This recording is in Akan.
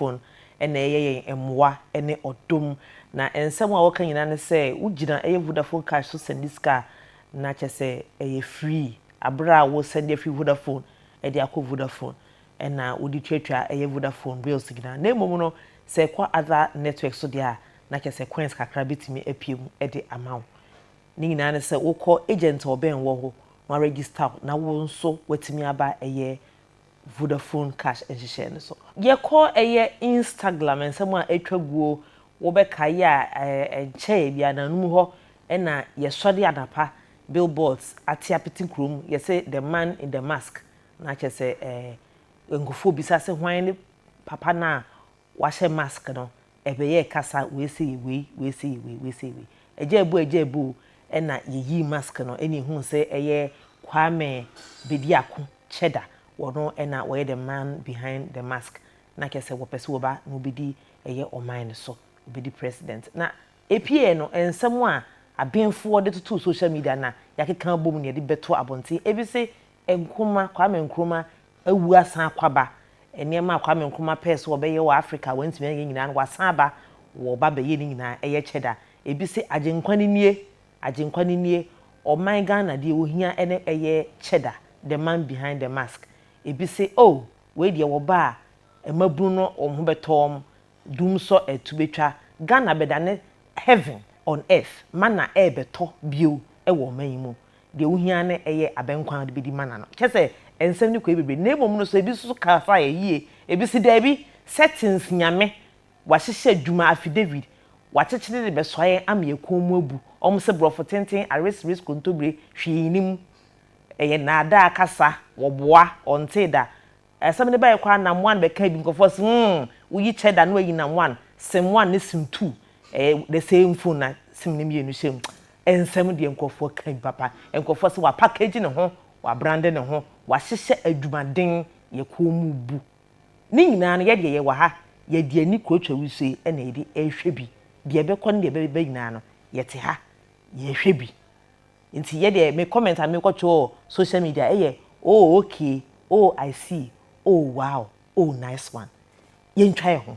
Onyankopɔn na ɛyɛ yɛn mmoa ne ɔdom. Na nsɛm a wɔka nyinaa ne sɛ wogyina ɛyɛ Vodafone cash so sɛnde sika a, na kyerɛ sɛ ɛyɛ free. Bere a wosɛnde afi Vodafone de akɔ Vodafone na wode tuatua ɛyɛ Vodafone bills nyinaa. Na mmom no, sɛ ɛkɔ other network so deɛ a, na kyerɛ sɛ coins kakra bɛtumi apue mu de ama wo. Ne nyinaa ne sɛ wokɔ agent a ɔbɛn wo hɔ, wɔaregister wo na wo nso woatumi aba ɛyɛ Vodafone Cash nhyehyɛe no so. Yɛkɔ ɛyɛ Instaglam nsɛm a atwa guo wo bɛkae yɛ a ɛnkyɛɛ biara no anum hɔ na yɛsɔre anapa billboards ate apete kurom yɛse the man in the mask na kyerɛ sɛ nkurɔfoɔ bisa se hwan ne papa no a Wahyɛ mask no ɛbɛyɛɛ kasa wei sɛ yɛ wei, wei sɛ yɛ wei, wei sɛ yɛ wei. Agyaabu agyaabu o ɛna yɛyii mask no ɛna yɛhuu sɛ ɛyɛ Kwame Bediako Kyɛda wɔno ɛna wɔyɛ the man behind the mask na kyerɛ sɛ wɔpɛ sɛ wɔba na wɔbɛdi ɛyɛ ɔman no so, wɔbɛdi president. Na ɛpieeɛ no nsɛm a abenfoɔ de totoo social media na yɛakeka abom na yɛde bɛto abɔnten ɛfiri se Nkrumah, Kwame Nkrumah awu asan akɔ aba. Nneɛma a Kwame Nkrumah pɛɛ sɛ ɔbɛyɛ wɔ Afrika a wantumi anyɛ nyinaa no, wasan aba, wɔba abɛyɛ ne nyinaa. Ɛyɛ kyɛ da. Ebi se, Agyenkwa no nie! Agyenkwa no nie! Ɔman Ghana, deɛ wɔhia ne ɛyɛ kyɛ da, the man behind the mask. Ebi se, Oh! Wei deɛ wɔba a, mmabunu no wɔn ho bɛtɔ wɔn. Dum sɔ ɛtu bɛtwa Ghana bɛda ne heaven on earth mana ɛɛbɛtɔ bio wɔ ɔman yi mu deɛ wohia ara ne ɛyɛ abɛnkwan a wode bɛdi mana no kyɛ sɛ ɛnsɛm no kɔɛ bebree na mmom no sɛ ɛbi nso so ka fa yɛ yie ɛbi se daabi settings nyame wahyehyɛ adwuma affidavit wakyekyere de bɛsoa yɛn ama yɛ kɔn mu abu wɔn se borɔfo tenten ares res kontobire hwee nnim ɛyɛ nnaadaa kasa wɔboa ɔntee da Asɛm no bɛyɛ koraa na moan bɛka bi. Nkurɔfoɔ se, hmm, wo yi kyɛ da na wayi na moan. Se moan ne sim tu, ɛyɛ the same phone na sim no mmienu hyɛ mu. Nsɛm deɛ nkurɔfoɔ ka bi papa. Nkurɔfoɔ se wapackage ne ho, wabrande ne ho, wahyehyɛ adwumaden, yɛ kɔn mu bu. Ne nyinaa no, yɛ deɛ yɛwɔ ha, yɛde ani kuratwa wusie na yɛde rehwɛ bi. Deɛ ɛbɛkɔ ne deɛ ɛbɛba nyinaa no, yɛte ha, yɛhwɛ bi. nti yɛ deɛ me comment a me kɔ twe wɔ social media ɛyɛ oh okay oh I see oh wow oh nice one yɛntwa yɛn ho.